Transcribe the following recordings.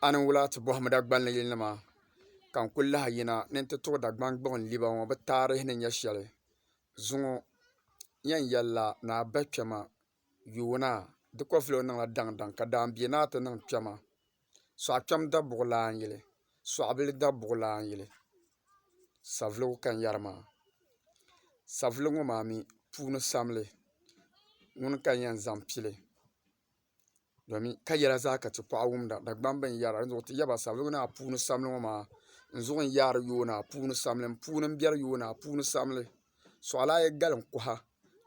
a ni wula ti bɔhim Dagbani yilinima ka n-kul lahi yina ni nti tuɣi Dagbani gbuɣin liba ŋɔ bɛ taarihi ni nyɛ shɛli zuŋɔ yɛn yɛlila ni a bahi kpɛma yuuna di kɔvili o niŋla daŋdaŋ ka daambia ni a ti niŋ kpɛma sɔɣikpɛm dabuɣilan yili sɔɣibila dabuɣilan yili savuligu ka n yɛri maa savuligu ŋɔ maa mi puuni samli ŋuni ka n yɛn zaŋ pili domi ka yɛla zaa ka ti paɣ' wumda Dagbani bɛn yɛra di zuɣ ti yɛba sabigi ni a puuni samli ŋɔ maa n zuɣ n yaari yooni a puuni samli n puuni n bɛri yooni a puuni samli suɣilana a yi gali n kuha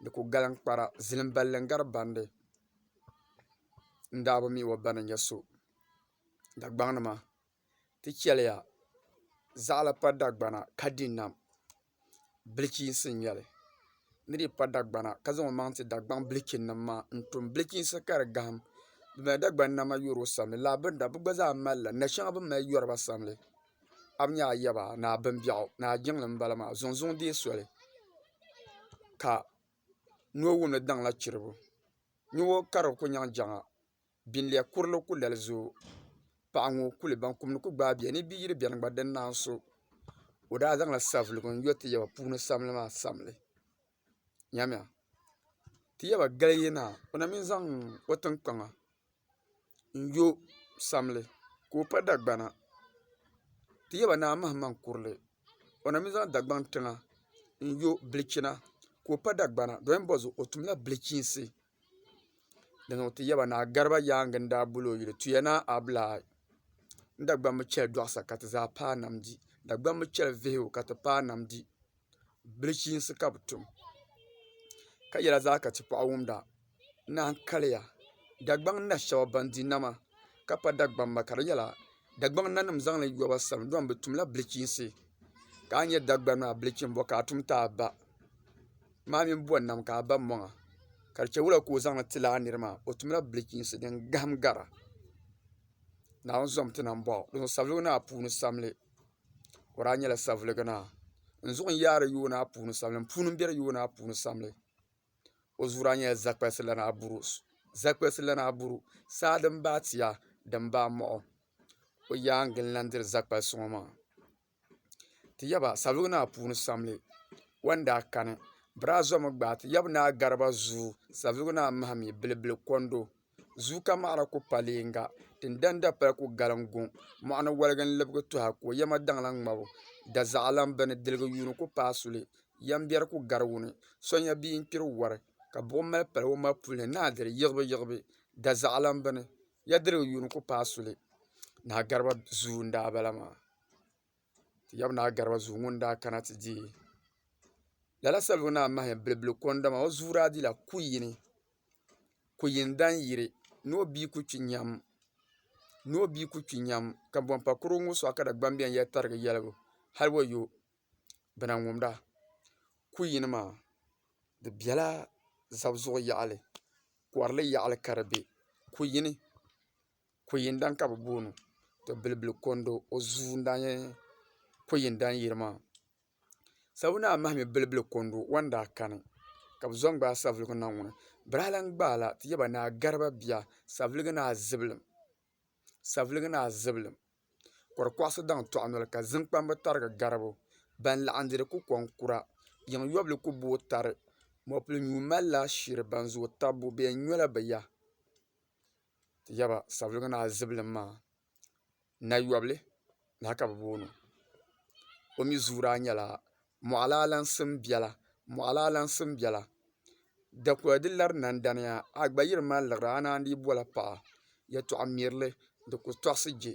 di ku gali n kpara zilim balli n gari bandi n daa bi mi o ba ni nyɛ so Dagbaŋ ni maa ti chɛliya zaɣila pa dagbana ka di nam bilichiinsi n-nyɛ li ni di pa dagbana ka zaŋ maŋ ti dagbaŋ bilichinima maa n-tum bilichiinsi ka di gahim bɛ mali dagbani nama yɔri o sani lala bini na bɛ gba zaa mali la na' shɛŋa bɛ ni mali yɔri ba sani a bi nya a yaba ni a bimbiɛɣu ni a jiŋli m-bala maa zuŋzuŋ deei soli ka noo wum ni daŋla chirigu nyu o ka di kuli nyaŋ jaŋa. binlɛɣ kurili ku lali zooi paɣa ŋɔ kuli baŋ kum ni ku gbaai bɛ ni bɛ yiri bɛni gba di ni naai so o daa zaŋla savelugu n-yo ti yaba puuni samli maa samli nyamiya ti yaba gali yi naai o na mi zaŋ o tiŋkpaŋa n-yo samli ka o pa dagbana ti yaba naa mahimaŋ kurili o na mi zaŋ dagbaŋ tiŋa n-yo bilichina ka o pa dagbana doli m-bɔzi o tumla bilichiinsi dinzuɣu ti yɛba ni a gariba yaangi n daa boli o yuli tuya ni a abulaa n dagbaŋ bi chɛli doɣasa ka ti zaa paai nam di dagbaŋ bi chɛli vihigu ka ti paai nam di bilichiinsi ka bi tum ka yɛla zaa ka ti paɣi wumda naan kaliya dagbaŋ na shɛba ban di nama ka pa dagbamba ka di nyɛla dagbaŋ nanim zaŋli yɔba sani dɔn bi tumla bilichiinsi ka a nya dagbaŋ maa bilichini bɔ ka a tum ti a ba maa mini bɔri nam ka a ba mɔŋa ka di chɛwula ka o zaŋ ti lala niri maa o tumla bilichiinsi din gahim gara Naawuni zom ti na m-bɔŋɔ dinzuɣu saviligi ni a puuni samli o daa nyɛla saviligi naa n zuɣu n-yaari yooi ni a puuni samli m puuni m-biɛri yooi ni a puuni samli o zuɣu daa nyɛla zaɣ'kpalisi lana abuuru zaɣ'kpalisi lana abuuru saa din baai tia din baai mɔɣu o yaangi n-lahi diri zaɣ'kpalisi ŋɔ maa Ti yaba Salɔg Naa puuni samli wan daa kani. Braa zɔmi gbaai ti yab Naa Garba zuu Salɔg Naa Mahimi Bilibili kondo zuu ka maɣira ku pa leega. Tin dani dapali ku galim guŋ. Mɔɣini wɔligi n-libigi tuha ka o yɛma daŋla ŋmabu. Dazaɣilan bɛ ni diligi yuuni ku paai suli. Yɛm biɛri ku gari wuni. So nya bia n-kpiri wari, ka buɣim mali pali o ma puli ni naa diri yiɣibu yiɣibu. Dazaɣilan bɛ ni, ya diligi yuuni ku paai suli. Naa Garba zuu n-daa bala maa. ti yaba naa gariba zuu ŋuni daa kana ti diɛ lala salibu naa mahaya bilibili ko n dama o zuu daa dila kuli yini kuli yini dani yiri ni o bia kuli kpi yɛm ni o bia kuli kpi yɛm ka bani pa kurugu ŋɔ suɣa ka Dani bɛni yɛli tarigi yɛligu hali wayo bi na ŋumida kuli yini maa di bɛla zabi zuɣu yaɣili kɔrili yaɣili ka di bɛ kuli yini. Ko'yindaŋ ka bɛ booni o to Bilibili Kondo o zuu n-daa nyɛ Ko'yindaŋ yili maa sabu ni a mahi mi Bilibili Kondo o ni daa kani ka bɛ zo n-gbaai savelugu niŋ ŋɔ ni bɛ daa lan gbaai la ti yaba ni a gariba bia savelugu ni a zibilim savelugu ni a zibilim kɔrikɔɣisi daŋ tɔɣi noli ka ziŋkpambi tarigi garibu ban laɣim diri ku kɔŋkura yiŋ yɔbili ku booi tari mɔpil nyu malila shiri ban zooi tabbu bɛ yɛn nyola bɛ ya. Ti yaba Savelugu Naa Zibilim maa nayɔbili lahi ka bɛ booni o. O mi zuyu daa nyɛla Mɔɣili Alaŋsim biɛla. Mɔɣili Alaŋsim biɛla dakɔya di lari nandaniya a gba yiri ma n-liɣiri a naan dii boli paɣa. Yɛtɔɣ mirili di ku tɔɣisi je.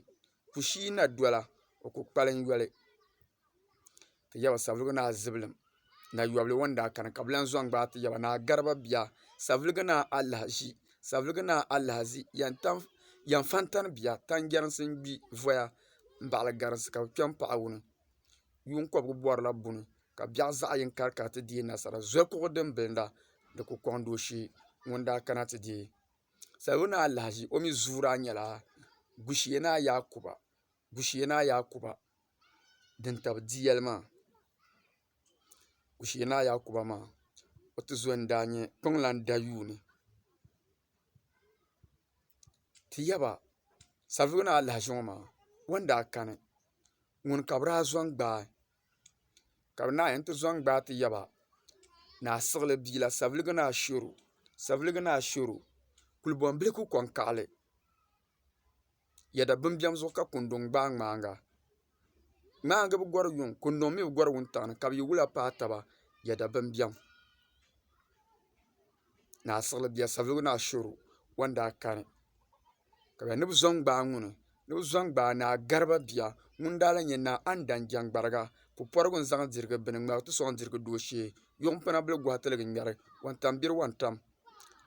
Kushii na dola o ku kpalim yoli. ti yaba savuligu ni a zibilim nayɔbili ŋɔ ni daa kani ka bɛ lan zɔŋ gbaai ti yaba ni a gariba bia savuligu ni a alahaʒi savuligu ni a alahaʒi yɛn fantani bia tanjɛrinsi n-gbi voya m-baɣili garinsi ka bɛ kpe m-paɣi wuni yuun kɔbigu bɔrila buni ka biɛɣ zaɣ yini kari kari ti deei nasara zokuɣu din bilinda di ku kɔŋ dooshee ŋun daa kana ti deei savuligu ni a alahaʒi o mi zuuri a nyɛla gushee ni a yaakuba gushee ni a yaakuba din tabi di yɛli maa Kushe Naa Yakuba maa o tizɔri n-daa nyɛ kpiɔŋlan dayuuni ti yaba Savelugu Naa Alahaji ŋɔ maa o ni daa kani ŋuni ka bɛ daa zaŋ gbaai ka bɛ naanyi ti zaŋ gbaai ti yaba Naa Siɣili bia la Savelugu Naa Shero Savelugu Naa Shero kulibɔnbilifu kɔŋkaɣili Yɛda bimbiɛm zuɣu ka kunduŋ gbaai ŋmaaŋa ŋmaaŋa bi gɔri yuŋ kunduŋ mii bi gɔri wuntaŋ ni ka bi yi wula paai taba yɛda bimbiɛm ni a siɣili bia savelugu ni ashooro o ni daa kani ka ni bi zo n gbaai ŋuni ni bi zo n gbaai naa gariba bia ŋun daa lahi nyɛ naa Andaŋ jɛŋgbariga pupɔrigu n zaŋ dirigi bini ŋmɛri ti sɔŋ dirigi dooshee yuŋ pina bili gɔhi tiligi ŋmɛri wuntaŋ biri wuntaŋ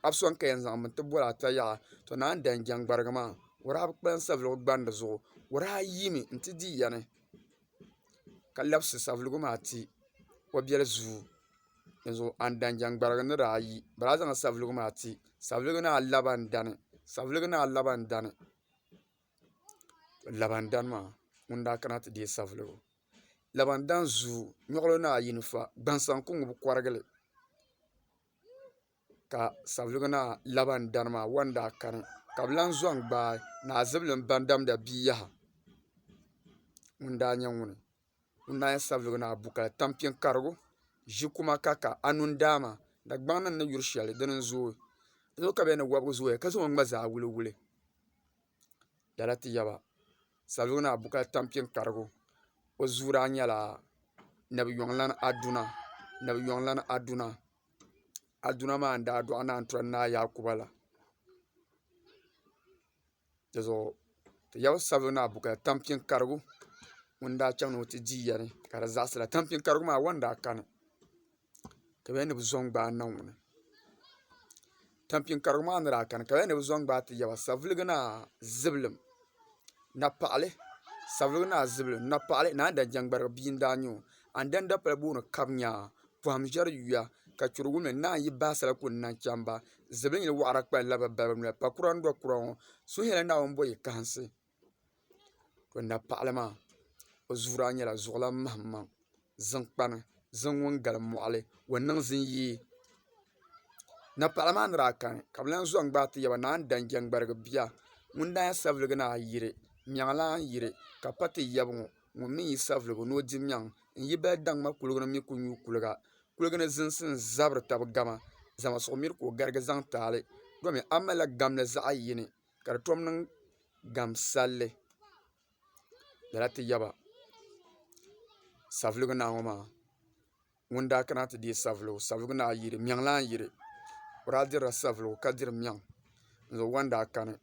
a bi sɔŋ ka yɛn zaŋ bini ti boli ata yaha to naan dan jɛŋgbarigi maa wuhiri a bi kpalim savelugu gbandi zuɣu wuhiri a yiimi n ti dii yani ka labisi savelugu maa ti o biɛli zuu dinzuɣu a ni dan jɛŋgbarigi ni daa yi bala a zaŋla savelugu maa ti savelugu naa laba n dani savelugu naa laba n dani laba n dani maa ŋuni daa kana ti deei savelugu laba n dani zuu nyɔɣilo naa yini fa gbaŋ saŋ ku ŋubi kɔrigili ka savelugu naa labani dari maa wari n daa kani ka bi lahi zɔŋ gbaai naa zibili n ba n damda bia yaha ŋun daa nyɛ ŋuni ŋun daa nyɛ savelugu naa bukali tampiŋ karigu ʒi kuma ka ka anu n daa maa dagbaŋ ni ni yuri shɛli dini n zooi n yuli ka bɛ ni wɔbigi zooya ka zaŋ o ni gba zaa wuli wuli lala ti yaba salo ni abu ka tam kpɛ n karigu o zuuri a nyɛla nabiyoŋlani aduna aduna maa n daa doɣi naan tɔri naa yaakuba la dizuɣu ti yaba salo ni abu ka tam kpɛ n karigu ŋun daa chɛŋ ni o ti di yɛli ka di zaɣasira tampiŋ karigu maa a wo ni daa kani ka bɛ yɛli ni bɛ zo n-gbaai Naawuni tampiŋ karigu maa ni daa kani ka bɛ yɛli ni bɛ zo n-gbaai ti yaba saviligi ni a zibilim napaɣili saviligi ni a zibilim napaɣili ni a ni daa jɛŋgbarigi bia n-daa nyɛ o a ni dani dapali booni kabnya pɔhim ʒiɛri yuya ka churi wumli ni a yi bahi sala kul ni n-lahi chaŋ ba zibilinyili wɔɣira kpalila bɛ balibu noli pakura n-do kura ŋɔ suhiyɛlli Naawuni bɔ yi kahinsi o napaɣili maa o zuuri a ni nyɛla zuɣulan mahimaŋ zinkpani zin ŋun galim mɔɣili o niŋ zin yi napaɣili maa ni daa kani ka bɛ lan zɔŋ gbaai ti yaba naan dan jɛŋgbarigi bia ŋun daa nyɛ saviligi ni a yiri nyɛŋlan yiri ka pa ti yaba ŋɔ ŋun mi yi saviligi ni o di nyɛŋ n-yi bali daŋ ma kuliga ni mi ku nyu kuliga kuliga ni zinsi n-zabiri taba gama zaŋmi suɣimir ka o garigi zaŋ taali domi a malila gamli zaɣ yini ka di tom niŋ gamsallli lala ti yaba savuligu naa ŋɔ maa ŋun daa kana ti deei savuligu savuligu naa yiri mɛŋ lan yiri o daa dirila savuligu ka diri mɛŋ n-zaŋ wanda kani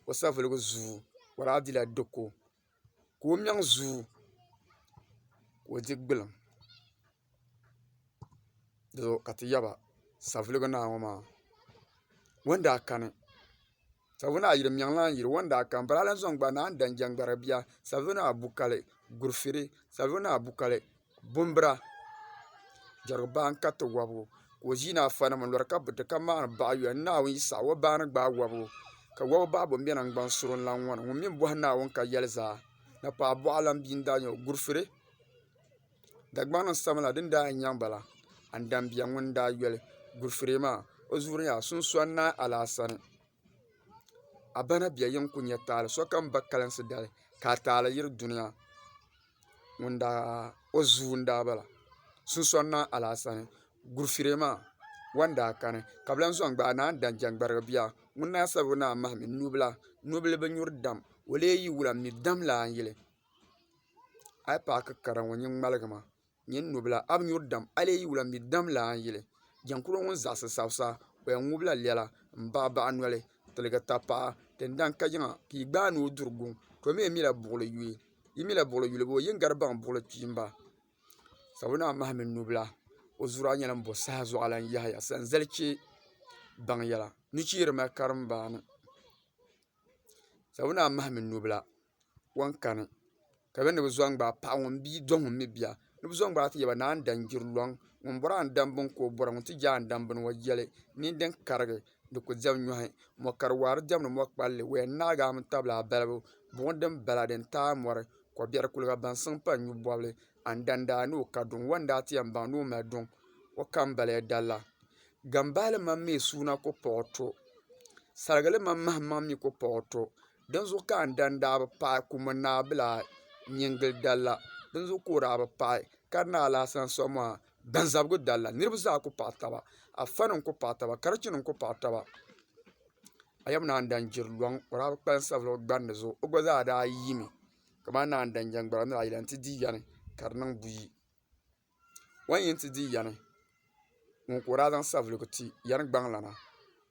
o savuligu zuu o daa dila diko ka o mɛŋ zooi ka o di gbulim ka ti yaba savelugu naa ŋɔ maa o ni daa kani savelugu naa yuli n mɛŋ lan yuli o ni daa kani bala a lahi zaŋ gbaai ni a ni da n jɛŋgari bia savelugu naa bu kali guri fɛrɛ savelugu naa bu kali Bumbira jɛrigu baa n kariti wobigu ka o ʒii ni afa nima n lori ka buti ka maani baɣa yoya ni naawuni yi saɣi o baa ni gbaagi wobigu ka wobi baɣa bin be nangban suri n lahi ŋɔni ŋun mi bohi naawuni ka yeli zaa napaa boɣa lan bia n daa nyɛ o gurifiri Dagbaŋ ni sami la din daa yen nyaŋ bala andambiya ŋun daa yoli gurifiri maa o zuɣu ni yaa sunsoni naai alaasani. a ba na bɛya yɛn ku nyɛ taali sokam ba kalinsi dali ka a taali yiri duniya o zuu n daa bala sunsuuni na alaasa ni gurufirɛ maa wa ni daa kani ka bi lahi soŋ gbaai ni a ni da n jɛŋgbarigi bia ŋuni naa sabi ni a mahi mi nubila nubila bi nyuri dam o lee yi wula n mi damla a ni yili a yi paaki kara ŋɔ nyini ŋmaligi ma Nyin nubila a bi nyuri dam, a lee yi wula m-mi dam la a ni yili. Jɛnkuro ŋun zaɣisi sabisa, o yɛn ŋubila lɛla m-baɣibaɣi noli, tiligi tapaɣa, tindan kajiŋa, ka yi gbaai ni o duri guŋ. To mi mila buɣili yuyi, yi mila buɣili yulibo, yi ni gari baŋ buɣili kpiimba. Sabonaa mahi mini nubila, o zuri a nyɛla m-bo saha zuɣu lan yahiya sanzali chɛ baŋ yɛla. Nucheeni mali karimbaani. Sabonaa mahi mini nubila. ŋɔ n kani ka bɛ ni bɛ zo n-gbaai paɣa ŋɔ m-bia do ŋun mi bia ni bɛ zo n-gbaai ti yɛba ni a ni dan gbiri luŋ ŋun bɔri a ni dam bini ka o bɔra ŋun ti je a ni dam bini ŋɔ yɛli nini din karigi di ku diɛm nyɔhi mɔ kari waa di diɛmdi mɔ kpalli wɛya ni naagi a mini tabilaa balibu buɣim din bala din taai mɔri ko biɛri kuliga baŋsim pa n-nyu bɔbili andani daa ni o ka duŋ ŋɔ n-daa ti yɛn baŋ ni o mali duŋ o ka m-bala ya dalla gambahili mam mi suuna ku paɣi o to sarigili mam mahimmaŋ mi ku paɣi o to Dinzuɣu ka n dan daa bi paɣi kum n naa bila nyingili dalla dinzuɣu ka o daa bi paɣi ka di naa alahisan soŋ maa gbanzabigu dalla niriba zaa ku paɣi taba afa nim ku paɣi taba karichi nim ku paɣi taba a yɛm naan dan jiri luŋ o daa bi kpalim sabigi o gbandi zuɣu o gba zaa daa yiimi kamani naan dan jɛŋgbara ni a yi lan ti di yani ka di niŋ buyi. O ni yɛn ti di yani ŋun ka o daa zaŋ savelugu ti yani gbaŋ lana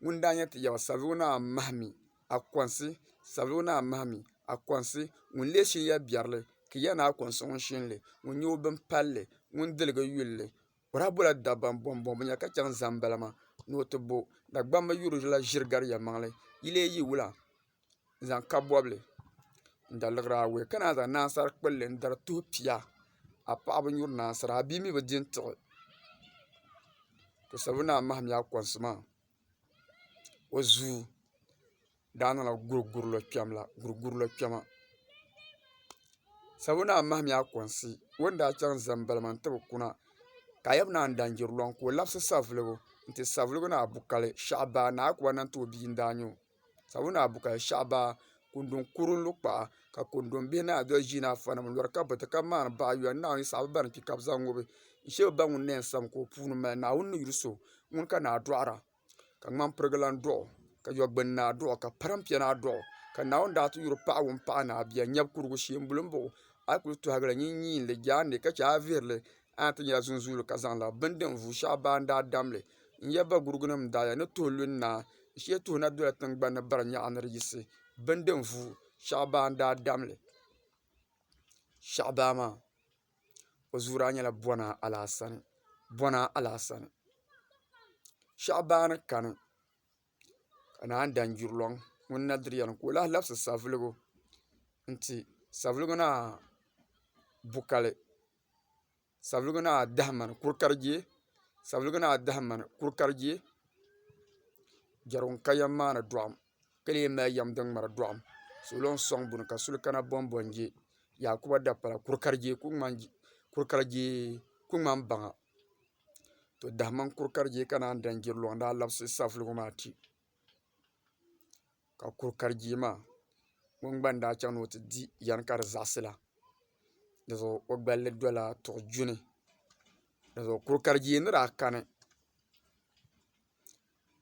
ŋun daa nyɛ ti yaba savelugu naa mahi mi a konsi savelugu naa mahi mi a konsi ŋun lee shiri ya biɛri li ka ya ni a konsi ŋun shini li ŋun nyɛ o bin palli ŋun diligi yuli li o daa bola dabba n bɔŋ bɔŋ binyɛra ka chɛŋ n zaŋ n bala maa ni o ti bo Dagbamba yuri la ʒiri gari yɛlimaŋli yi lee yi wula n zaŋ kabi bobli n da liɣiri awɛ ka naan zaŋ naan sari kpulli n dari tuhi pia a paɣa bi nyuri naan sara a bia mii bi di n tiɣi ka o sabbu naa maham yaa konsi maa o zuu daa niŋla guri guri lo kpɛm la guri guri lo kpɛma sabbu naa maham yaa konsi o ni daa chɛŋ ʒɛ n bala maa n ti bi kuna ka a yɛli bɛ naa n daan jɛri loŋ ka o labisi savuligu n ti savuligu ni a bu kali shaɣu baa ni a ku ba ni n ti o bia n daa nyɛ o sabula Bukal shɛba kundɔn kuri lu kpaɣa ka kundɔn bihi naanyi doli ʒii ni afa nima n lɔri ka bati ka mŋari baɣa yɔli naawuni saɣim ba ni kpi ka bi zaŋ ŋubi n shɛ bi ba ŋuni nɛɛn sani ka o puuni mali naawuni ni yuli so ŋuni ka naa dɔɣira ka ŋmani pirigi lan dɔɣi o ka yɔ gbuni naa dɔɣi o ka parim pia naa dɔɣi o ka naawuni daa ti yuri paɣa ŋuni paɣi ni a bia nyɛbi kurigu shee n boli n baɣi o a yi kuli tɔhigi li nyin nyiin li jaan ni ka che a yi vihiri li a ni yɛn ti nyɛla zuŋzuuli ka zaŋ la bini din vuui shɛɣu baa n daa dam li. n nyɛ bagurugu nim daɣaya ni tuhi lu n na n shee tuhi na dola tingbanni bari nyaɣa ni di yisi bindi n vu shaɣu baa n daa damli shaɣu baa maa o zuɣu daa nyɛla bɔna alaasani shaɣu baa ni kani ka naan dan gbiri luŋ ŋun na diri yɛlim ka o lahi labisi savelugu n ti savelugu naa bu kali Savelugu Naa dahi mani kuri ka di deei Savelugu Naa dahi mani kuri ka di deei Jɛrigu n ka yɛm maani doɣam ka lee mali yɛm din ŋmari doɣam salo n soŋ buni ka suli kana bɔnbɔ n jɛ yaakuba dapala kuri ka di deei ku ŋmani baŋa to dahi mani kuri ka di deei ka naan dani jiri luŋ n daa labisi savelugu maa ti ka kuri kari jee maa ŋun gba ni daa chaŋ ni o ti di yɛm ka di zaɣisi la di zuɣu o gballi dola tuɣi duni di zuɣu kuri kari jee ni daa kani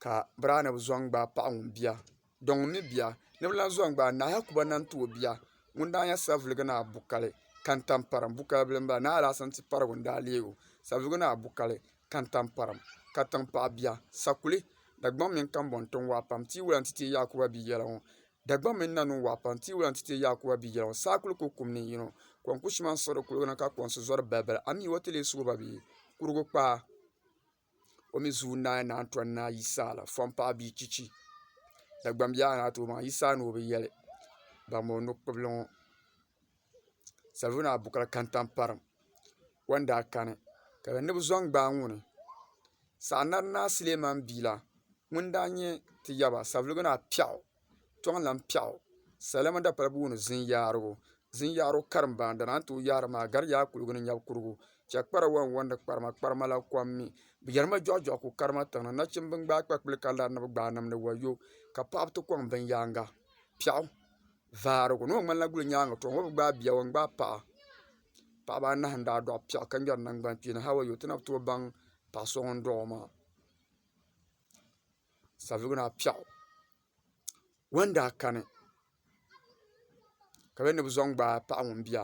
ka bira ni bi zaŋ gbaai paɣa ŋun bia dɔn ŋun mi bia ni bi lan zaŋ gbaai naai Yakubu lan ti o bia ŋun daa nyɛ savelugu ni abukali kantampariŋ bukaabila m-bala naai alaasana tiparigu n-daa leeg o savelugu ni abukali kantamparim, katiŋ paɣa bia, sakuli, Dagbaŋ mini kambɔŋ tiŋ waa pam, Tiiwula nti teei Yaakuba bia yɛla ŋɔ. Dagbaŋ mini nanun waa pam, Tiiwula nti teei Yaakuba bia yɛla ŋɔ, Saakuli ku kum ni yino, Kom ku shima n-siɣiri kuliga ni ka kɔŋsi zɔri balibali, A mi o ti lee sugi ba bee? Kurugu kpaa, O mi zuun naai naan tɔn naai yi saa la, Fɔŋ paɣa bia chichi, Dagbaŋ bia a ni a tooi baŋ yi saa ni o bi yɛli, Bammi o nukpibili ŋɔ. Salvina Abuka Kantamparim o ni daa kani ka di ni bi zo n-gbaai ŋuni Saha Narinaa Suleiman Biila ŋun daa nyɛ ti yaba Salvina Piɛɣu Tɔŋlan Piɛɣu Salima Dapali Booni Zinyaarigu Zinyaarigu Karimbaani dana n-ti o yaari maa gari yaa kuliga ni nyab kuligu chɛ kpara wa n-wɔndi kparima kparima la kom mi bɛ yɛri ma jɔɣu jɔɣu ku karima tiŋa nachimba n-gbaai kpakpuli ka lari ni bɛ gbaai nimdi wayo ka paɣiba ti kɔŋ binyɛhiri Piɛɣu. vaarigu ni o ŋmanila guli nyaangi too ŋɔ bi gbaai bia o yɛn gbaai paɣa paɣaba anahi n daa dɔɣi piɛɣu ka ŋmɛri nangbani kpeeni hali wayi o ti na bi tooi baŋ paɣa so ŋun dɔɣi o maa savelugu naa piɛɣu o yɛn daa kani ka bɛ ni bi zaŋ gbaai paɣa ŋun bia